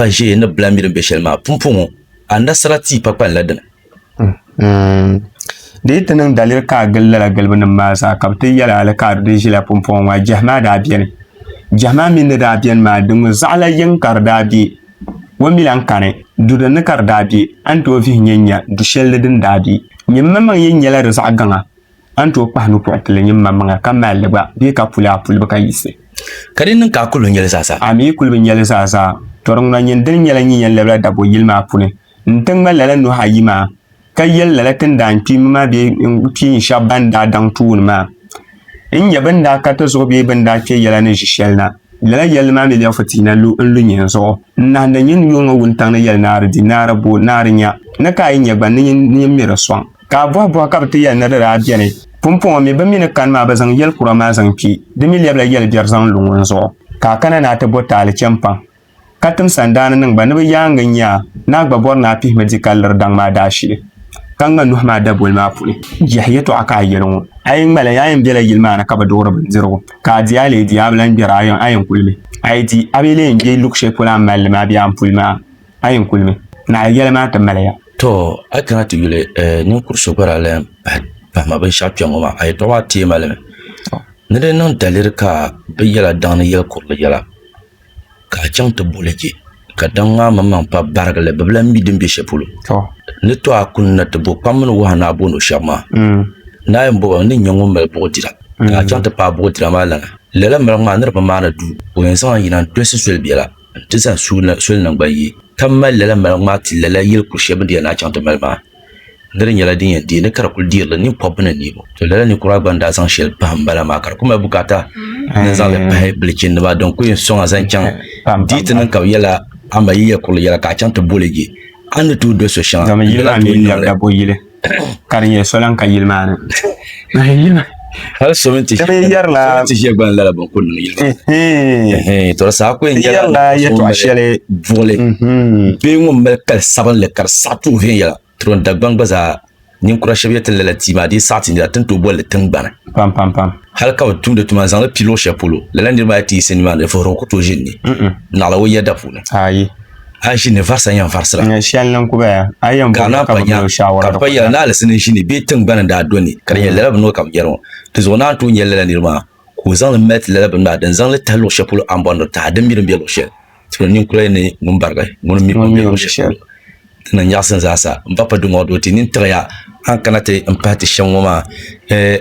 ka ʒee ni bila mi din be shɛli maa pumpɔŋɔ anasara tia pakpani la dini. Mm-hmm. Di yi ti niŋ daliri ka a gili lala gilibinim maa zaa ka bɛ ti yɛli a li ka a di di ʒila pumpɔŋɔ ŋɔ a jɛhi maa daa beni. Jɛhi maa mi ni daa beni maa di ŋɔ zaɣila yiŋ ka di daa be o mi lan kani du din ni ka di daa be a ni tooi vihi nyɛ nya du shɛli ni din daa be. Nyini manmaŋ yɛn nyɛla di zaɣ gaŋa. A ni tooi kpahi nupuɣ pili nyin maŋmaŋa ka mal li gba bee ka puli a pulibu ka yiɣisi? Ka di niŋ ka a kul bi nya li zaa zaa? A mi kul bi nya li zaa zaa. Tɔri ŋuna nyin dini nyɛla nyin yɛn labila Dagbo yili maa puuni nti ŋma lala nuhi ayi maa, ka yɛli lala ti ni daa n kpiimmi maa bee n kpiin shɛb bɛn daa daŋ tuun maa n nya bɛ ni daa ka ti zuɣu bee bɛ ni daa kpe yɛla ni ʒi shɛli na. Lala yɛlli maa mi bɛ fu ti na lu n lu nyin zuɣu n nahindi nyin yuŋ ŋɔ wuntaŋ ni yɛli naari di, naari bo, naari nya ni ka a yi nya gba ni nyin mi di sɔŋ. Ka a bɔhi bɔhi ka bɛ ti yɛli ni di daa beni. Pumpɔŋɔ mi, bɛ mi ni kani maa bɛ zaŋ yɛl kura maa zaŋ kpi. Di mi lɛbila yɛl biɛri zaŋ lu ŋun zuɣu, ka a kana ni a ti bo taali cham paŋ. Ka tim sandaani niŋ ba ni bɛ yaaŋa nya a, ni a gba bɔri ni a pihimi di ka liri daŋ maa daashili, ka ŋma nuhi maa daboli maa puni. Yɛhi yɛtɔɣa ka a yɛli ŋɔ. A yi ŋma li, a yɛn bela yili maa ni ka bi duɣiri bindirigu, ka a di a lee di, a bi lan gbɛri a yɛn kuli mi. A yi di, a bi lee yɛn gbe luɣ shɛli polo a ni mali li maa bee a ni puli mi a. A yi kuli mi, naɣila yɛli maa ti mali ya. To, a kana ti yuli eh, ninkur so gba daa lahi pahi pahi ma binshɛɣu kpɛŋ ŋɔ maa, a yɛtɔɣa maa teei ma li mi. Ni di niŋ daliri ka bɛ yɛla daŋ ni yɛli kurili yɛla, ka a chaŋ ti boli je, ka daŋ maa maŋmaŋ pa barigi li, bɛ bi lan mi din be shɛli polo. To. Ni to a kuni na ti bo kpam mini wahu ni a booni o shɛba maa, mm. ni a yɛn boba, n ni nya ŋun mali buɣi dira, mm. ka a chaŋ ti paai buɣi dira maa lana. Lala maligi maa ni di bi maani duu, o yɛn zaŋ a yina n-tolisi soli bela. n ti zaŋ soli niŋ gba yi. Ka m mali lala maligu maa ti lala yili kur shɛli bɛ ni yɛn lahi chaŋ ti mali maa, ni di nyɛla din yɛn deei ni ka di kul deerila ninkpɔbba ni niriba. To lala ninkura maa gba ni daa zaŋ shɛli pahim bala maa ka di kul mali bukaata ni n zaŋ li pahi bilichindima din kul yɛn sɔŋ a zaŋ chaŋ di ti niŋ ka bɛ yɛla a ma yi yɛl kurili yɛla ka a chaŋ ti boli je a ni tooi doli so shɛŋa. ka di nyɛ solan ka yili maa ni hali so mini ti ʒiɛ gba n lala bin ku niŋ yili maa to saa ku yɛla yɛtɔɣa shɛli buɣuli bee ŋun mali kali sabinli ka di saɣa tuhi viɛnyɛla tiro dagbaŋ gba zaa ninkura shab yɛti lala tia maa dii saɣa ti nira tin tooi bolli tingbani pam pam pam hali ka bi tumdi tuma n zaŋli pi luɣu shɛli polo lala niraba ayi ti yiɣisi nimaani vuhirigu ku tooi ʒini ni naɣila o yɛda puuni ayi a ʒi ni varisa yɛn varisira. Nyɛ shɛli ni ku baya, a yɛn bɔri ka bi mini o shaawara. Ka bi pa yɛla ni Alisi ni ʒi ni bɛ tiŋgbani daa do ni, ka di nyɛ lala bini ka bi yɛri ŋɔ. Di zuɣu naa n-tooi nyɛ lala niri maa, ka o zaŋ li mali ti lala bini maa din zaŋ li tahi luɣ shɛli polo a ni bɔri ni o tahi a din mi din be luɣ shɛli. Tibili ninkura yi ni ŋun barigi, ŋuni mi o ni be luɣ shɛli polo. Di ni nyaɣisi n zaasa m-ba pa duŋɔŋ doo ti nini tiɣi ya a ni kana ti m-pahi ti shɛm ŋɔ maa. Ɛɛh!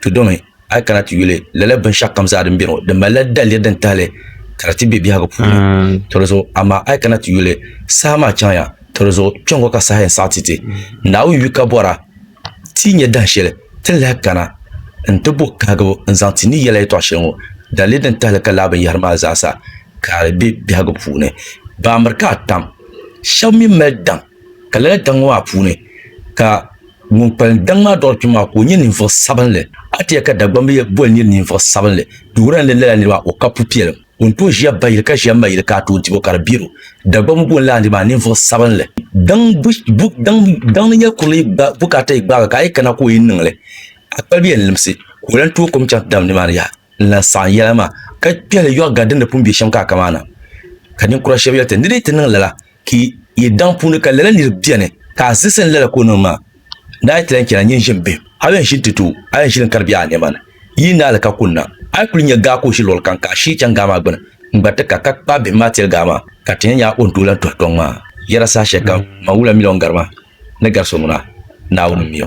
ti domi a yi kana ti yuli lala binshaɣu kam zaa din bɛ ŋɔ di malila daliri din tahali ka di ti bɛ biɛhagu puuni to di zuɣu amaa a yi kana ti yuli saha maa chaŋya to di zuɣu kpɛŋŋo ka saha yɛn saɣa ti ti naawuni yu ka bɔra ti yi nyɛ dahin shɛli ti ni lahi kana n ti bo kahigibu n zaŋ ti ni yɛla yɛtɔɣa shɛli ŋɔ daliri din tahali ka laa binyahari maa zaasa ka di bɛ biɛhagu puuni baambiri ka a tam shab mii mali daŋ Ka lala daŋ ŋɔ maa puuni ka ŋun kpalim daŋ maa dɔɣiri kpɛm maa ka o nyɛ ninvuɣ sabinli. A ti yɛli ka Dagbamba yi boli nir ninvuɣ sabinli, di wuhirila ni lala nir maa o ka pupiɛlim. O ni tooi ʒiya bayili ka ʒiya mayili ka a tooi dib o ka di bɛr o. Dagbamba booni lala nir maa ninvuɣ sabinli. Daŋ ni nyɛl kurili bukaata yi gbaagi ka a yi kana ka o yi niŋ li, a kpalibi yɛn limsi ka o lan tooi kom chaŋ ti dalim nimaani yaha n-lan saɣim yɛla maa ka kpihili yɔɣ gari din ni pun be shɛm ka a ka maa na. Ka ninkura shɛb yɛli ti, Ni dii ti niŋ lala, Ki yi daŋ puuni ka lala nir beni ka a zisi n lala ka o niŋ maa, ni a yi ti lan chana nyin ʒim bihim, a yɛn ʒi n-ti ti o, a yɛn ʒili n-kari biɛɣu a nɛma ni. Yi yi naali ka kunna, a yi kul nya gaa ka o ʒi luɣilkam ka a shii chaŋ gaa maa gbini n-gba ti ka, ka kpaai bihim maa tiri gaa maa, ka ti nya nya o ni tooi lan tuhi kpiɔŋ maa. Yɛra saha shɛli kam man wula miliɔn gari ma ni gari so ŋuna, Naawuni m-mi o.